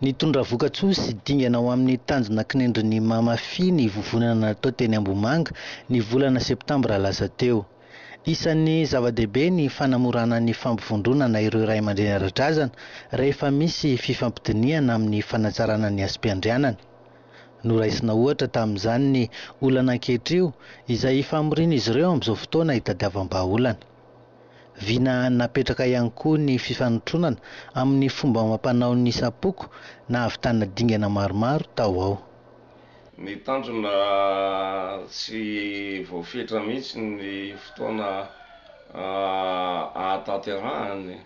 Nitondra vokatsoa sy dingana ho amin'ny tanjona kinendrin'ny Mamafi ny vovonana natao teny Ambohimanga, ny volana septambra lasa teo. Isan'ny zava-dehibe ny fanamorana ny fampivondronana ireo ray aman-dreny ara-drazana rehefa misy fifampidinihana amin'ny fanatsarana ny asim-piandrianana. Noraisina ohatra tamin'izany ny olana ankehitrio izay famorian'izy ireo amin'izao fotoana itadiavam-bahaolana. Vina napetraka ihany koa ny fifanotronana amin'ny fomba amam-panao ny Sapoko nahavitana dingana maromaro tao ao. Ny tanjona tsy voafetra mihitsy ny fotoana ahatanterahany.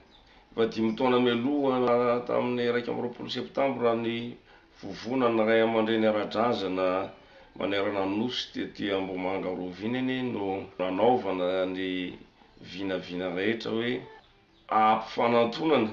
Efa dimy taona mialoha tamin'ny iraika amby roapolo Septambra ny Vovona ny ray aman-dreny ara-drazana manerana ny Nosy tety Ambohimanga Rovina anie no nanaovana ny vinavina rehetra hoe ampifanantonana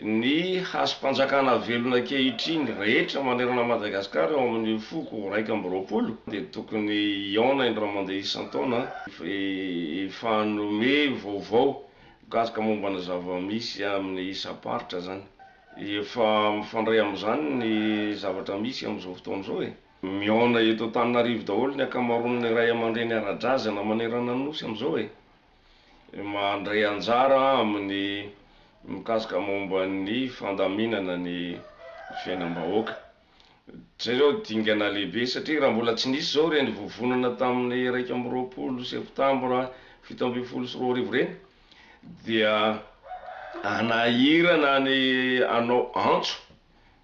ny hazom-panjakana velona ankehitriny rehetra manerana Madagasikara eo amin'ny foko iraika amby roapolo dia tokony hihaona indray mandeha isan-taona hifanome vaovao mikasika momba ny zava-misy amin'ny isam-paritra izany. Efa mifandray amin'izany ny zavatra misy amin'izao fotoana izao e! Mihaona eto Antananarivo daholo ny ankamaroan'ny ray aman-dreny ara-drazana manerana ny Nosy amin'izao e! Mandray anjara amin'ny mikasika momba ny fandaminana ny fiainam-bahoaka. Jereo dingana lehibe satria raha mbola tsy nisy izao ireny vovonana tamin'ny iraika amby roapolo septambra fito ambin'ny folo sy roa arivo ireny dia hanahirana ny hanao antso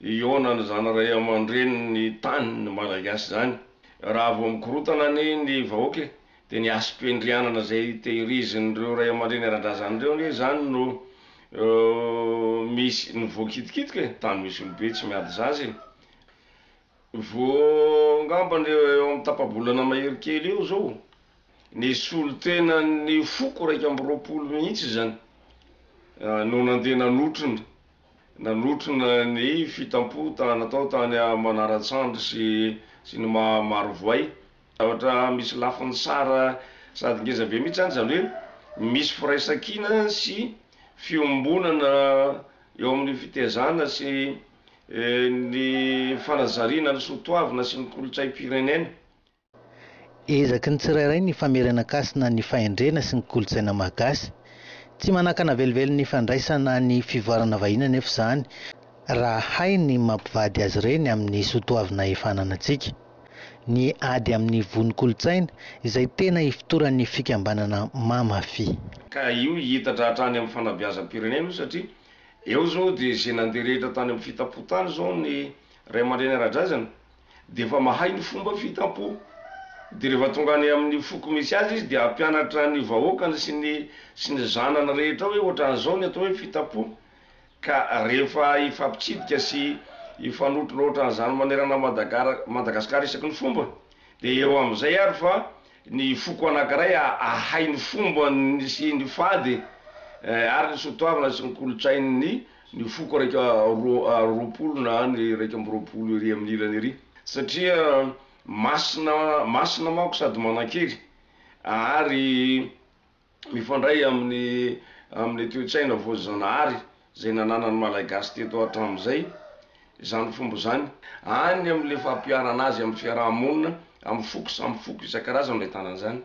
hihaona ny zanaray aman-drenin'ny tany malagasy izany raha vao mikorontana anie ny vahoaka e! Dia ny hasim-piandrianana izay tehirizin'ireo ray aman-dreny ara-drazana ireo ange izany no misy, no voakitikitiko e! Tany misy olobe tsy miady zaza e! Vao angamba ny eo amin'ny tapa-bolana mahery kely eo izao, nisolo tena ny foko iraika amby roapolo mihitsy izany no nandeha nanotrona, nanotrona ny fitampoha natao tany Manaratsandry sy ny maha Marovoay Zavatra misy lafiny sara sady ngeza be mihitsy zany, zany hoe misy firaisankina sy fiombonana eo amin'ny fitezana sy ny fanazariana ny soatoavina sy ny kolontsaim-pirenena. Ezaky ny tsirairay ny famerenan-kasina ny fahendrena sy ny kolontsaina Mahgasy. Tsy manakana velively ny fandraisana ny fivoarana vahiny anefa izany, raha hay ny mampivady azy ireny amin'ny soatoavina efa ananantsika. ny ady amin'ny vono kolontsaina izay tena ifotoran'ny fikambanana Mamafi. Ka io hiitatra hatrany amin'ny fanabeazam-pirenena io satria eo izao dia izay nandeha rehetra tany amin'ny fitampo tany izao ny ray aman-dreny ara-drazana dia efa mahay ny fomba fitampo dia rehefa tonga any amin'ny foko misy azy izy dia hampianatra ny vahoakany sy ny sy ny zanany rehetra hoe ohatran'izao ny atao hoe fitampo Ka rehefa hifampitsidika sy hifanotroloatra an'izany manerana Madagara Madagascar isaky ny fomba dia eo amin'izay ary fa ny foko anankiray ahay ny fombany sy ny fady ary ny soatoavina sy ny kolontsain'ny ny foko iraika roapolo na ny iraika amby roapolo ery amin'ny ilany ery satria masina masina manko sady manankery ary mifandray amin'ny amin'ny toe-tsaina voajanahary izay nananan'ny Malagasy teto hatramin'izay izany fomba izany. Any amin'ilay fampiharana azy amin'ny fiaraha-monina, amin'ny foko samy foko isan-karazany no ahitana an'izany.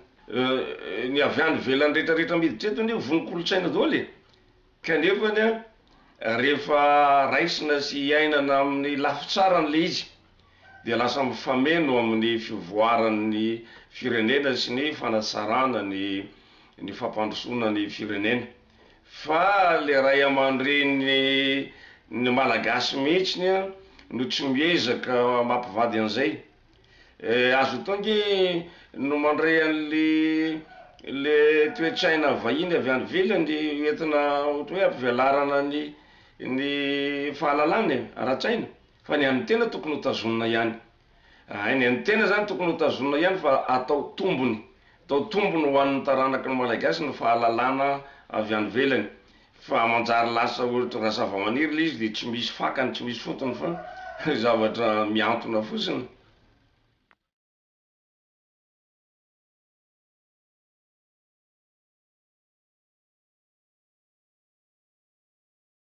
Ny avy any ivelany rehetra rehetra miditra eto anie ho vonon-kolontsaina daholo e! Kanefany an, rehefa raisina sy iainana amin'ny lafy tsarany ilay izy dia lasa mifameno amin'ny fivoaran'ny firenena sy ny fanatsarana ny ny fampandrosoana ny firenena. Fa ilay ray aman-dreny ny Malagasy mihitsy no tsy miezaka mampivady an'izay. Eh, aza atao ange no mandray an'le le toe-tsaina vahiny avy any ivelany ho entina ohatra hoe hampivelarana ny ny fahalalana e, ara-tsaina, fa ny an'ny tena tokony hotazonina ihany. Ay, ny an'ny tena zany tokony hotazonina ihany fa atao tombony, atao tombony ho an'ny taranaky ny Malagasy ny fahalalana avy any ivelany. Fa manjary lasa ohatran zavamaniry le izy de tsy misy fakany tsy misy fotony fa zavatra mihantona fotsiny.